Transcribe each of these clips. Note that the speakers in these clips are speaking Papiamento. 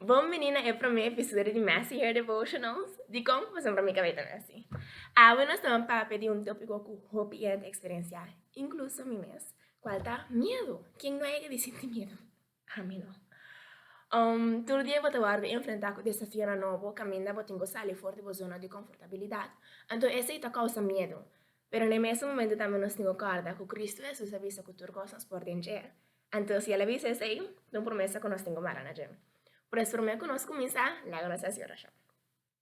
Bon bini na e prome episodio di Messy Hair Devotionals. Dikon ku pasen pa mi kabeta messy? Awe nos ta ban papia di un topiko ku hopi hende eksperensiá, inkluso mi mes, kual ta miedu. Ken no a yega di sinti miedu? Ami no. Um, tur dia bo ta wòrdu enfrentá ku desafionan nobo kaminda bo tin ku sali for di bo zona di konfortabilidat. Anto esei ta kousa miedu. Pero na e mes momentu tambe nos tin ku kòrda ku Kristu Hesus a bisa ku tur kos nos por den dje. Anto si el a bisa esei, ta un promesa ku nos tin ku mara na dje. Por eso, promé ku nos kuminsá, laga nos hasi orashon.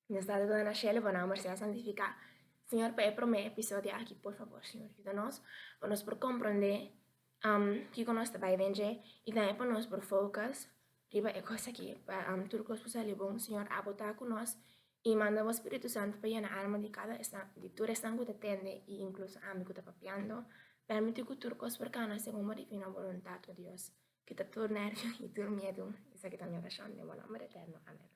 Nos Tata ku ta na shelu, bo nòmber sea santifiká. Señor, pa e promé episodio aki, por fabor, Señor, yuda nos pa nos por komprondé kiko nos ta bai den dje i tambe pa nos por focus riba e kos aki, pa tur kos por sali bon. Señor, abo ta ku nos, i manda Bo Spiritu Santu pa yena alma di kada esnan, di tur esnan ku ta tende, i inkluso ami ku ta papiando. Permití ku tur kos por kana segun Bo difino boluntat, o Dios. Kita tur nervio i tur miedu. Esaki ta mi orashon den Bo nòmber eterno. Amèn.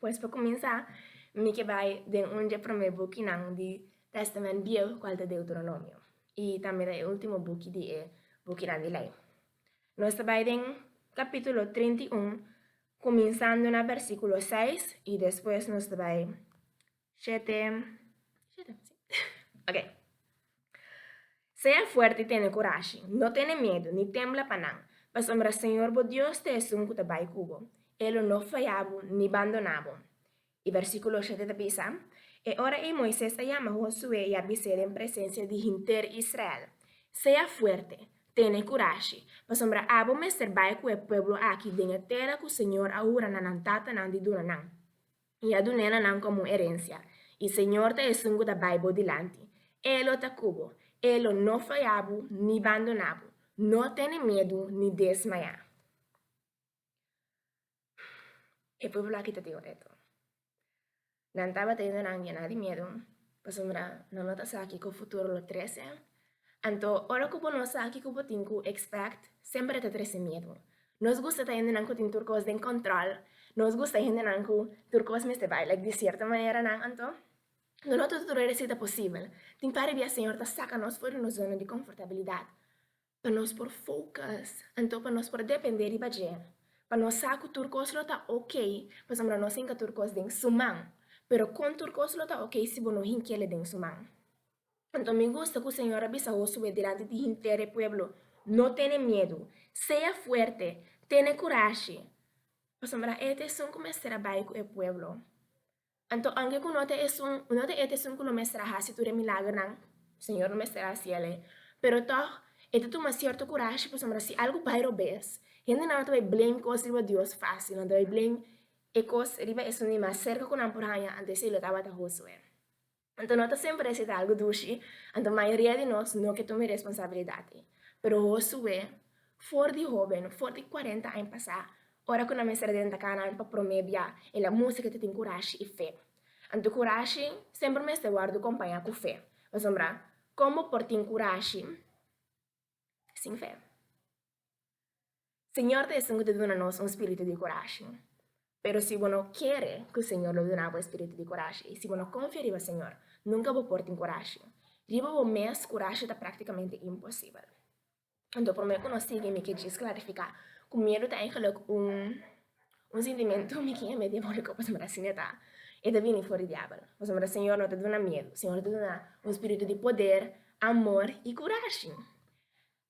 Pues pa kuminsá, mi ke bai den un dje promé bukinan di Tèstamènt Biehu, kual ta Deuteronomio, i tambe ta e último buki di e Bukinan di Lei. Nos ta bai den kapítulo treinta i un, kuminsando na bèrsikulo seis i despues nos ta bai Shete. Shete, si. Ok. Sea fuerte i tene kurashi. No tene miedu, ni tembla pa nan, pasobra Señor bo Dios ta esun ku ta bai ku bo. E lo no faya bo, ni bandoná bo. I versíkulo shete ta bisa, E ora ei Moises a yama Hosué i a bis'é den presensia di henter Israel, Sea fuerte, tene kurashi, pasobra abo mester bai ku e pueblo aki den e tera ku Señor a hura na nan tatanan di duna nan. i a dun'é na nan komo un erensia. E Señor ta Esun ku ta bai bo dilanti. E lo ta ku bo. E lo no faya bo ni bandoná bo. No tene medu ni desmayá. E pueblo aki ta tin reto. Nan tabata yendo nan yená di medu, pasobra nan no ta sa kiko futuro lo trese. Anto, ora ku bo no sa kiko bo tin ku expect, semper ta trese miedu. Nos gusta ta hendenan ku tin tur kos den kòntròl, nos gusta hendenan ku tur kos mester bai like di sierto manera nan. Anto, no no tudu tur resi ta posibel. Tin par di bia Señor ta saka nos for di nos zona di konfortabilidat pa nos por focus, anto pa nos por depende riba dje, pa nos sa ku tur kos lo ta ok, pasobra nos hinka tur kos den Su man. Pero kon tur kos lo ta ok si bo no hink'e le den Su man? Anto mi gusta ku Señor a bisa Hosué dilanti di hinter e pueblo, No tene miedu. Sea fuerte. Tene kurashi. Pasobra e ta esun ku mester a bai ku e pueblo. Anto aunke ku no ta esun, no ta e ta esun ku lo mester a hasi tur e milagernan, Señor no mester a hasi el'e, pero tòg e ta tuma sierto kurashi pasobra si algu bai robes, hendenan no ta bai blame kos riba Dios fásil, nan ta bai blame e kos riba esun di mas serka ku nan por haña, anto esei lo tabata Hosué. Anto no ta semper esei ta algu dushi, anto mayoria di nos no ke tuma e responsabilidat ei. Pero Hosué, for di hóben, for di kuarenta aña pasá, ora ku nan mester a denta kana nan pa promé bia, el a mustra ke ta tin kurashi i fe. Anto kurashi semper mester wòrdu kompañá ku fe. Pasobra kon bo por tin kurashi? sin fe. Señor ta esun cu ta duna nos un spiritu di corashi. Pero si bo no kere cu Señor lo duna bo e spiritu di corashi y si bo no confia riba Señor, nunca bo por tin corashi. Riba bo mes corashi ta practicamente imposibel. Anto prome cu nos sigui mi ke djis clarifica cu miedu ta eigenlijk un Un sintimentu mi kieme diabóliko pasobra ta asina e ta, e ta bini for di diabel. Pasobra Señor no ta duna miedu, Señor ta duna un spiritu di poder, amor i kurashi.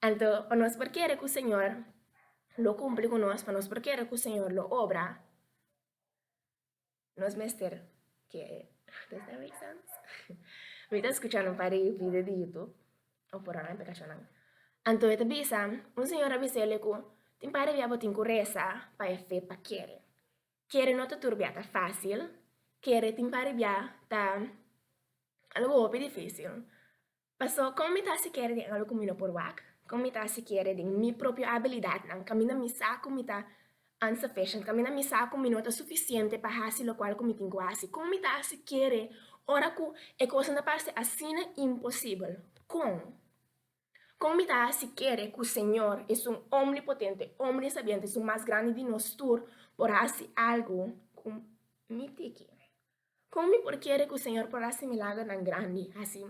Anto pa nos por kere ku Señor lo kumpli ku nos, pa nos por kere ku Señor lo obra, Nos mester ke antes den e exams. Mi ta skucha nan pa revi de dito, o por nan peka chonan. Anto e ta bisa, un señor a bisa ele ku, Tin par de bia bo tin ku resa pa e fe pa kere. Kere no ta tur bia ta fásil, kere tin par de bia ta algu hopi difísil. Paso, kon mi ta hasi kere den algu ku mi no por wak? Kon mi ta hasi kere den mi propio abilidatnan? Kaminda mi sa ku mi ta unsufficient, kaminda mi sa ku mi no ta sufisiente pa hasi lokual ku mi tin ku hasi. Kon mi ta hasi kere ora ku e kosnan ta parse asina imposibel? Kon? Kon mi ta hasi kere ku Señor, Esun Omnipotente, Omnisabiente, Esun Mas Grandi di nos tur, por hasi algu ku mi tiki? Kon mi por kere ku Señor por hasi milagronan grandi, hasi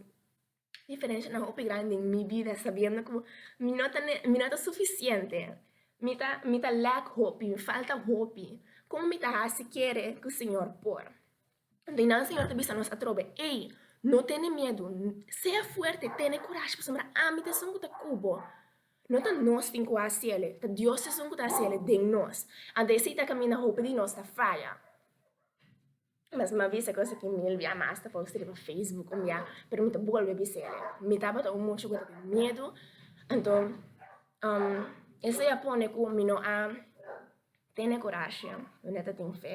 diferenshanan hopi grandi den mi bida sabiendo ku mi no ta mi no ta sufisiente, mi ta mi ta lèk hopi, mi falta hopi? Kon mi ta hasi kere ku Señor por? Di nan Señor ta bisa nos atrobe, Ey, no tene miedu, sea fuerte, tene kurashi, pasobra ami ta esun ku ta ku bo. No ta nos tin ku hasi ele, ta Dios esun ku ta hasi ele den nos. A vese i ta kaminda hopi di nos ta faya. Mas ma bisa cu esaki mil bia mas ta posti riba Facebook un bia, pero mi ta bolbe bisa el. Mi tabata un mucho cu ta tin miedu, anto esey a pone cu mi no a tene corashi, mi no ta tin fe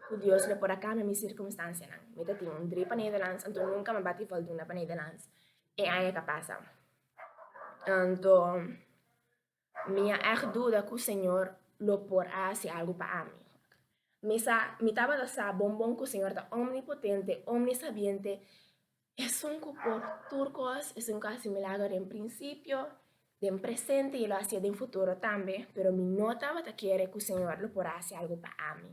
cu Dios lo por a cambia mi circunstancianan. Mi ta tin un dri pa Nederlands, anto nunca mi a bati valduna pa Nederlands e aña ca pasa. Anto. Mi a ègt duda ku Señor lo por a hasi algu pa ami. Mi sa, mi tabata sa bon bon ku Señor ta omnipotente, omnisabiente, Esun ku por tur kos, Esun ku a hasi milager den prinsipio, den presente i e lo hasié den futuro tambe, pero mi no tabata kere ku Señor lo por a hasi algu pa ami.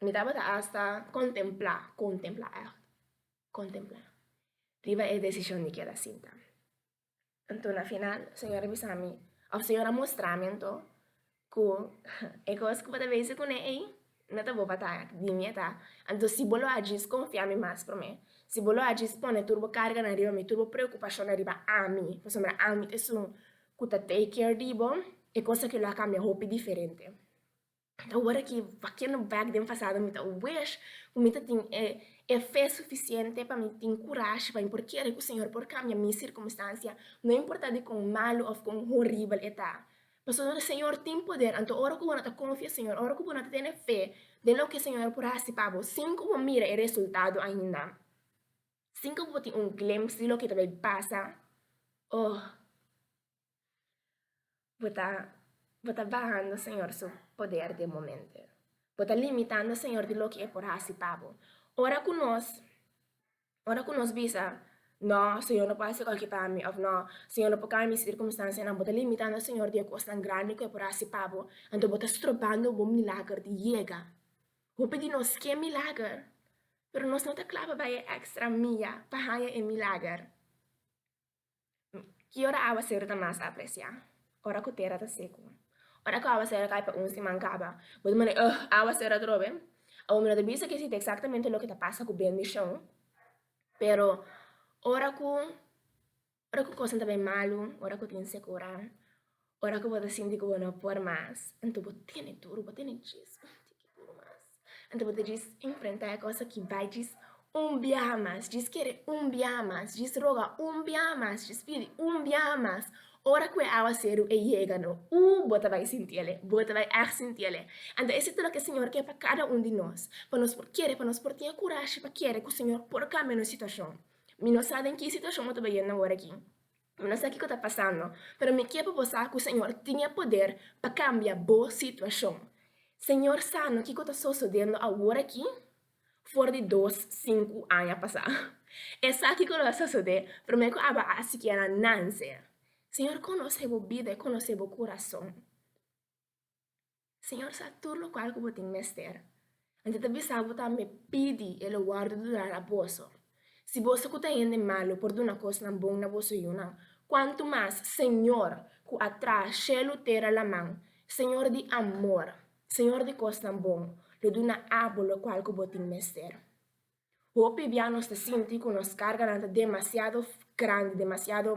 Mi tabata hasta contemplá, contempla echt, contemplá, riba e decision di keda sinta. Anto na final, Señor a bisa mi, of Señor a mostra mi anto, ku e kos ku bo ta bese kuné ei, no ta bo pa ta echt, di mi e ta. Anto si bo lo a djis konfia mi mas promé, si bo lo a djis pone tur bo karganan riba mi, tur bo preokupashonnan riba ami, pasobra ami ta esun ku ta take care di bo, e kos aki lo a kambia hopi diferente. Ora ki vakiendo bek den pasado mi ta wish ku mi ta tin e e fe sufisiente pa mi tin kurashi pa mi por kere ku Señor por kambia mi sirkumstansia no importa di kon malu òf kon horibel e ta, pasobra no di Señor tin poder. Anto ora ku bo no ta konfia Señor, ora ku bo no ta tene fe den loke Señor por hasi pa bo sin ku bo mira e resultado ainda, sin ku bo tin un glimpse di loke ta bay pasa, oh. Bo ta Bo ta bahando Señor su poder den momente. Bo ta limitando Señor di loke E por hasi pa Bo. Ora ku nos ora ku nos bisa, No, Señor no por hasi koke pa mi òf No, Señor no por kambia mi sirkunstansianan, bo ta limitando Señor di e kosnan grandi ku E por hasi pa bo, anto bo ta strobando Bo milager di yega. Hopi di nos ke milager, pero nos no ta klaba bai e èkstra mia pa haña e milager. Ki ora áwaseru ta mas apresiá? Ora ku tera ta seku. Ora ku áwaseru a kai pa un siman kaba, bo ta mira, Ugh, áwaseru atrobe! Awor mi no ta bisa aki si ta eksaktamente loke ta pasa ku bendishon, pero ora ku, ora ku kosnan ta bai malu, ora ku tin sekurá, Ora ku bo ta sinti ku bo no por mas, anto bo tene tur, bo tene djis un tiki tur mas. Anto bo ta djis enfrentá e kos aki bai, djis un biaha mas, djis kere un biaha mas, djis roga un biaha mas, djis pidi un biaha mas. Ora ku e awa seru e yega no, uu bo ta bai sinti al'e, bo ta bai èg sinti al'e. Anto ese ta lo ke Señor ke pa kada un di nos, pa nos por kere, pa nos por tin e kurashi pa kere ku Señor por kambia nos situashon. Mi no sa den ki situashon bo ta bai yendo awor aki. Mi no sa kiko ta pasando, pero mi kier pa bo sa ku Señor tin e poder pa kambia bo situashon. Señor sa no kiko ta sosodendo awor aki for di dos, sinku aña pasá. E sa kiko lo a sosodé, pero mi ku a baha sikiera nan ser. Señor konosé bo bida, e konosé bo kurason. Señor sa tur locual cu bo tin mester. Anto ta bisa bo tambe, pidi e lo wordo duna na boso. Si boso cu ta hende malo por duna cosnan bon na boso yunan, cuanto mas Señor cu a traha shelu tera laman, Señor di amor, Señor di cosnan bon, lo duna abo locual cu bo tin mester. Hopi bia nos ta sinti ku nos karganan ta demasiado grandi, demasiado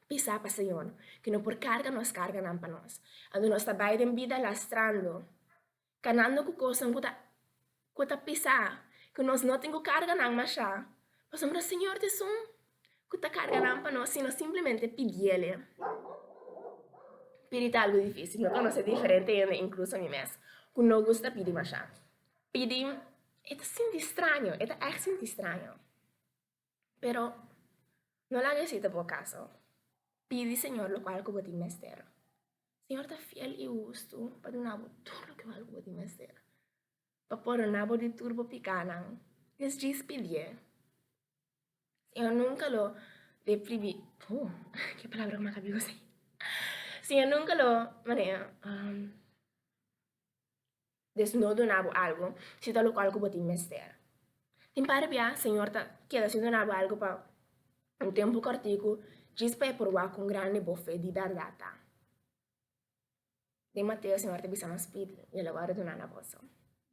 pisá pa Señor, ku e no por karga nos karganan pa nos. Anto nos ta bai den bida lastrando, kanando ku kosnan ku ta ku ta pisá, ku nos no tin ku karga nan mashá, pasobra Señor ta esun ku ta karga nan pa nos si nos simplemente pidiele. Pidi ta algu difísil, no konoce diferente hende, inkluso mi mes, ku no gusta pidi mashá. Pidi, E ta sinti straño, e ta ègt sinti straño. Pero no laga esei ta bo kaso. Pidi Señor lokual ku bo tin mester. Señor ta fiel i hustu pa duna bo tur lokual ku bo tin mester, pa pordoná bo di tur bo pikánan. Des djis pidié. Señor nunka lo depribi, oh, ke palabra ku mi a kapé kusai. Señor nunka lo, manera, Deus no duna bo algu si ta lo cual cu bo tin mester. Tin par di bia, Señor ta keda si duna bo algu pa un tempu corticu, djis pa e proba con grandi bo fe di berdad ta. Den Mateo, Señor ta bisa mas pidi, y el a wordo duna na boso.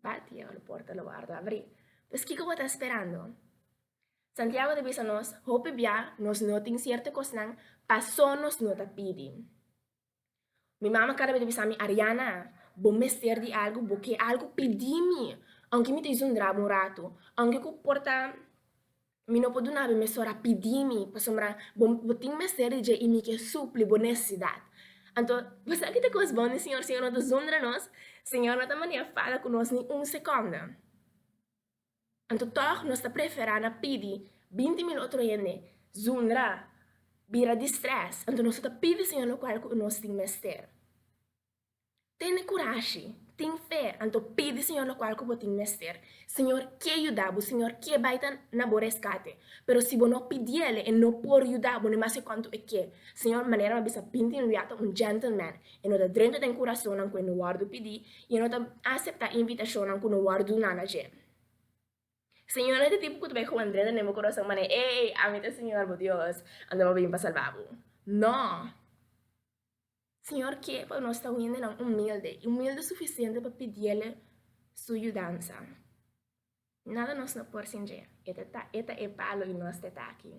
Bat, y e oro porta lo wordo abri. Pues kico bo ta sperando? Santiago ta bisa nos, hopi bia nos no tin cierto cosnan pasobra nos no ta pidi. Mi mama kada bes ta bisa mi, Ariana, bo mester di algu, bo ke algu, pidi mi. Aunke mi ta yusa un draba un ratu, aunke ku por ta mi no por duna bo mesora, pidi mi, pasobra bo, bo tin mester di dje i mi ke supli bo nesesidat. Anto, bo sa kiko ta kos bon di Señor? Señor no ta zundra nos, Señor no ta manera fala ku nos ni un sekonda. Anto tòg nos ta preferá na pidi binti mil otro hende zundra bira di strès, anto nos no ta pidi Señor lokual ku nos tin mester. Tene kurashi, tin fe, anto pidi Señor lokual ku bo tin mester. Señor ke yuda bo, Señor ke bai ta na bo reskate, pero si bo no pidi El, E no por yuda bo, ni mas ke konto E ke. Señor, manera mi a bisa binti luia ta un gentleman, E no ta drenta den kurasonnan ku e no wòrdu pidi i e no ta aseptá invitashonan ku no wòrdu duná na dje. Señor no e tipo ku ta bai huan drenta den bo kurason manera, Ey, ami ta Señor bo Dios, anto m'ha bin pa salbá bo. No! Señor ke pa nos ta hende nan humilde i humilde sufisiente pa pidi'El Su yudansa. Nada nos no por sin dje. E ta ta, e ta e palo i nos ta e taki.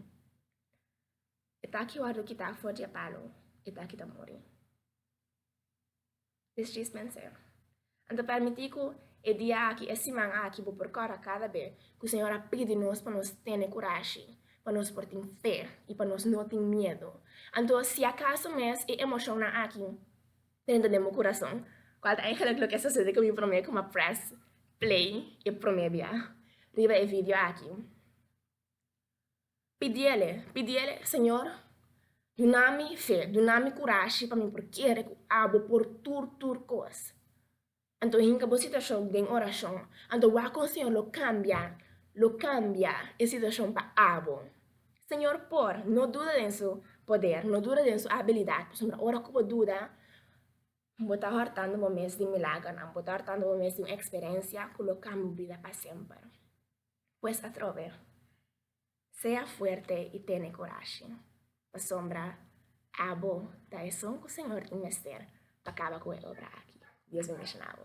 E ta aki wòrdu kitá for di e palu, e ta aki ta muri. Dis tris menseo. Anto permití ku e dia aki, e siman aki, bo por kòrda kada be ku Señor a pidi nos pa nos tene kurashi, pa nos por tin fe i pa nos no tin miedu. Anto si akaso mes e emoshonnan aki dentro den bo kurason, kual ta eingelik loke a sosede ku mi promé ku mi a press play e promé bia riba e video aki? Pidiele, pidiele, Señor, dunami fe, dunami kurashi pa mi por kere ku abo por tur tur kos. Anto hinka bo situashon den orashon, anto wak kon Señor lo kambia, lo kambia e situashon pa abo. Señor por, no duda den su poder, no duda den su abilidat, pasobra ora ku bo duda, bo ta hòrtando bo mes di milagernan, bo ta hòrtando bo mes di un eksperensia ku lo kambia bo bida pa semper. Pues atrobe, sea fuerte i tene corashi, pasobra abo ta esun cu Señor tin mester pa caba cu e obra aki. Dios bendiciona bo.